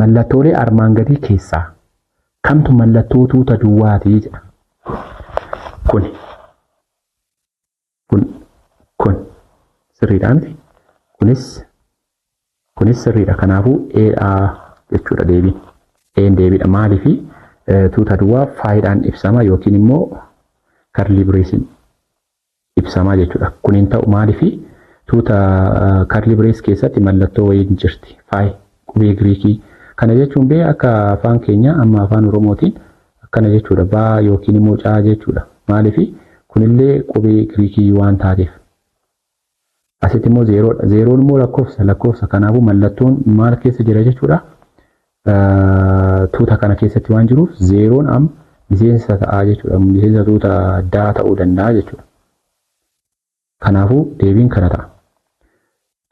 Mallattoolee armaan gadii keessaa kamtu mallattoo tuuta duwwaati jedha. Kun kun kun sirriidha miti. Kunis kunis sirriidha. Kanaafuu eedha jechuudha deebiin. Een deebiidha. Maaliif tuuta duwwaa faayidaan ibsama yookiin immoo karlii bireesiin ibsamaa jechuudha. Kun hin ta'u maaliifi tuuta karli birees keessatti mallattoo wayiin jirti. Faay qubee Giriikii. Kana jechuun bee akka afaan keenya amma afaan Oromootiin akkana jechuudha. Baa yookiin immoo caa jechuudha. Maaliifi kunillee qubee Giriikii waan taateef. Asitti immoo zeeroodha. Zeeroon immoo lakkoofsa lakkoofsa kanaafuu mallattoon maal keessa jira jechuudha. Tuuta kana keessatti waan jiruuf zeeroon am miseensa ta'a jechuudha. Miseensa tuuta daa ta'uu danda'a jechuudha. Kanaafuu deebiin kana ta'a.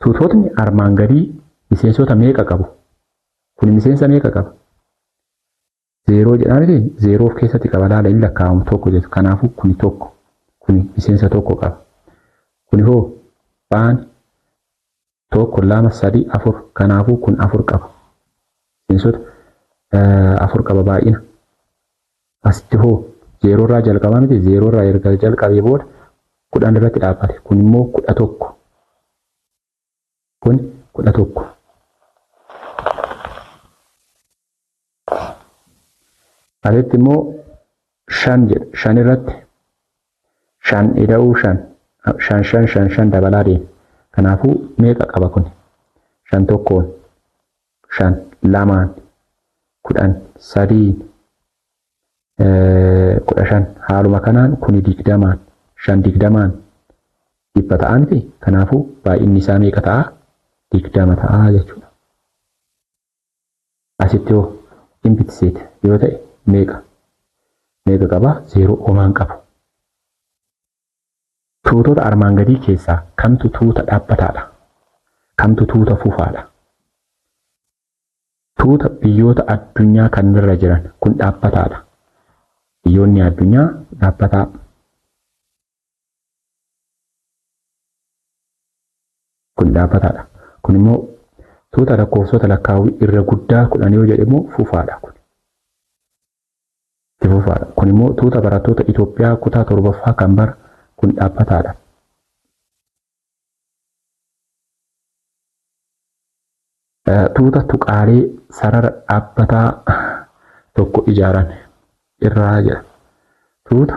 Tuutotni armaan gadii miseensota meeqa qabu? Kun miseensa meeqa qaba? Zeeroo jedhaa miti zeeroo of keessatti qaba laala in lakkaa'amu tokko jedhu kanaafuu kuni tokko kuni miseensa tokko qaba kuni hoo baan tokko lama sadii afur kanaafuu kun afur qaba miseensota afur qaba baay'ina asitti hoo zeeroo irraa jalqabaa miti zeeroo irraa erga jalqabee booda kudhan irratti dhaabbate kun immoo kudha tokko Kun kudha tokko. Asitti immoo shan jedha. Shan irratti shan ida'uu shan shan shan shan shan dabalaa deema. Kanaafuu meeqa qaba kun? Shan tokkoon, shan lamaan, kudhan sadiin, kudha shan haaluma kanaan kuni digdamaan shan digdamaan dhibba ta'a miti kanaafuu baay'inni isaa meeqa ta'a digdama ta'a jechuudha. Asitti hoo empty set yoo ta'e meeqa meeqa qaba zeeroo omaan qabu. Tuutota armaan gadii keessaa kamtu tuuta dhaabbataadha? Kamtu tuuta fufaadha? Tuuta biyyoota addunyaa kannirra jiran kun dhaabbataadha. Biyyoonni addunyaa dhaabbataa. Kun dhaabbataadha. Kun immoo tuuta lakkoofsota lakkaawwii irra guddaa kudhan yoo jedhe immoo fufaadha kun. Itti fufaadha. Kun immoo tuuta barattoota Itoophiyaa kutaa torbaffaa kan bara kun dhaabbataadha. Tuuta tuqaalee sarara dhaabbataa tokko ijaaran irraa jedha. Tuuta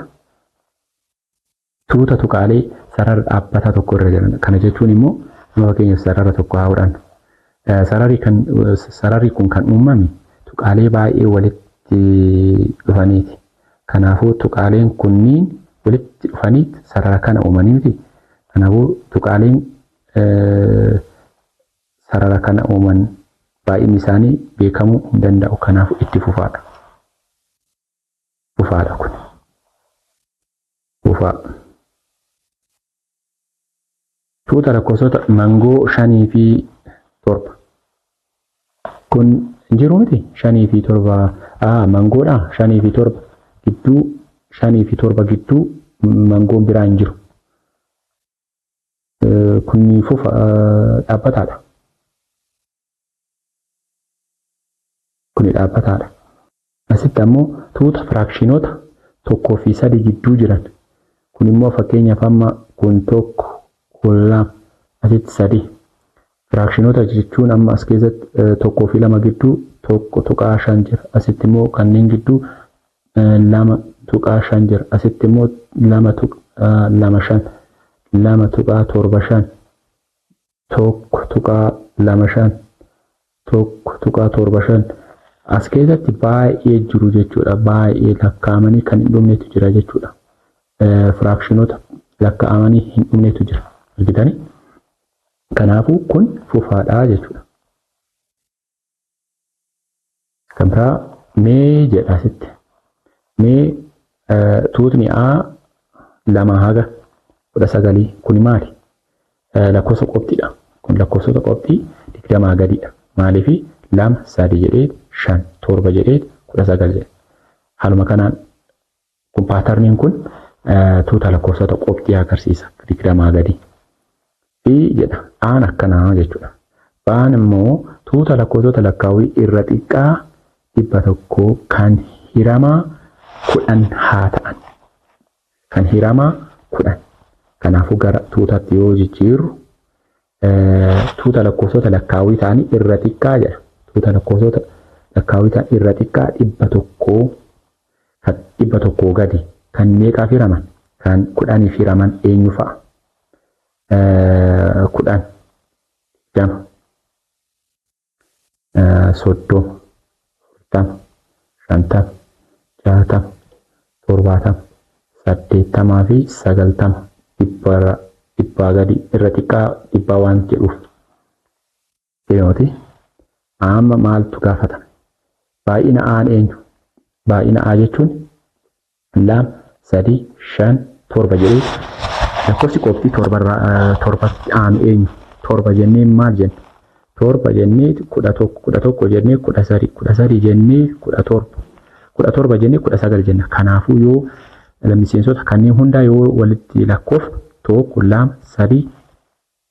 tuuta tuqaalee sarara dhaabbataa tokko irra jiran. Kana jechuun immoo amma fakkeenyaaf sarara tokko haa fudhannu. Sararri kan sararri kun kan uumame tuqaalee baay'ee walitti dhufaniiti. Kanaafuu tuqaaleen kunniin walitti dhufaniit sarara kana uumanii miti. Kanaafuu tuqaaleen sarara kana uuman baay'inni isaanii beekamuu hin danda'u. Kanaafuu itti fufaadha. Fufaadha kun. Fufaa. Tuuta lakkoofsota mangoo shanii fi torba. Kun jiru miti shanii fi torba a mangoodha shanii fi torba gidduu shanii fi torba gidduu mangoon biraa hin jiru. Kun fufa dhaabbataadha. kuni dhaabbataadha. Asitti ammoo tuuta firaakshiinota tokkoo fi sadi jidduu jiran kun immoo fakkeenyaaf amma kun tokko kun lama asitti sadi firaakshiinota jechuun amma as keessatti tokkoo fi lama gidduu tokko tuqaa shan jira asitti immoo kanneen gidduu lama tuqaa shan jira asitti immoo lama tuqaa lama shan lama tuqaa torba shan 1.25 1.75 as keessatti baay'ee jiru jechuudha baay'ee lakkaa'amanii kan hin dhumnetu jira jechuudha firaakshinota lakkaa'amanii hin dhumnetu jira argitanii kanaafuu kun fufaadhaa jechuudha. Kan biraa mee jedha asitti. Mee tuutni A lama haga kudha sagalii kuni maali? Lakkoofsa qopxiidha. Kun lakkoofsota qopxii digdamaa gadiidha. Maaliif lama sadi jedhee shan torba jedhee kudha sagal jedhe. Haaluma kanaan Kun paatarniin kun tuuta lakkoofsota qobxii agarsiisa digdamaa gadi. Fi jedha aan akkanaa jechuudha. Baan immoo tuuta lakkoofsota lakkaawwii irra xiqqaa dhibba tokko kan hiramaa kudhan haa ta'an. Kan hiramaa kudhan. Kanaafuu gara tuutatti yoo jijjiirru tuuta lakkoofsota lakkaawwii ta'anii irra xiqqaa jedha. Tuuta lakkoofsota lakkaawwii ta'an irra xiqqaa dhibba tokkoo kan dhibba tokkoo gadi kan meeqaaf hiraman kan kudhaniif hiraman eenyu fa'a? Kudhan digdama soddoo afurtama shantama jaatama torbaatama saddeettamaa fi sagaltama dhibbarra dhibbaa gadi irra xiqqaa dhibbaa waan jedhuuf deemati amma maaltu gaafatame baay'ina aan eenyu baay'ina a jechuun 2 3 5 7 jedhee lakkoofsi qophii torbatti aanu eenyu torba jennee maal jenna torba jennee kudha tokko kudha tokko jennee kudha sadii kudha sadii jennee kudha torba kudha torba jennee kudha sagal jenna kanaafuu yoo miseensota kanneen hundaa yoo walitti lakkoofne tokko lama sadii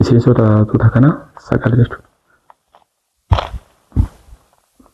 Miseensota tuuta kanaa sagal jechuudha.